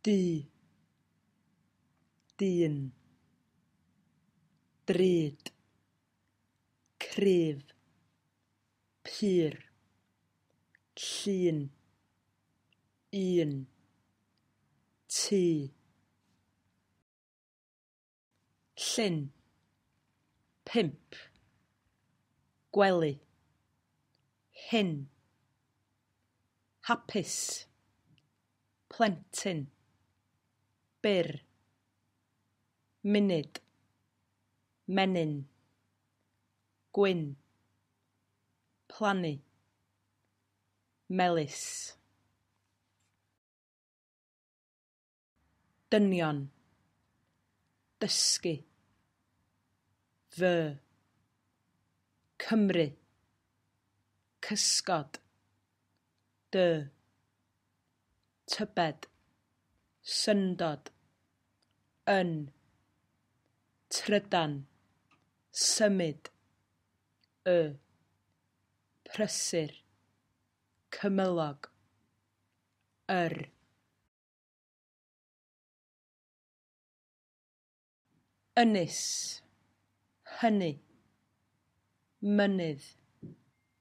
du dyn drud cryf pur llun un tŷ Llyn. Pump. Gwely. Hŷn. Hapus. Plentyn. Byr. Munud. Menyn. Gwyn. Plannu. Melys. dynion, dysgu, fy, Cymru, cysgod, dy, tybed, syndod, yn, trydan, symud, y, prysur, cymylog, yr. ynys, hynny, mynydd,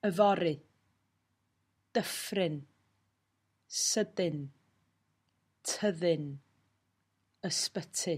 yfory, dyffryn, sydyn, tyddyn, ysbyty.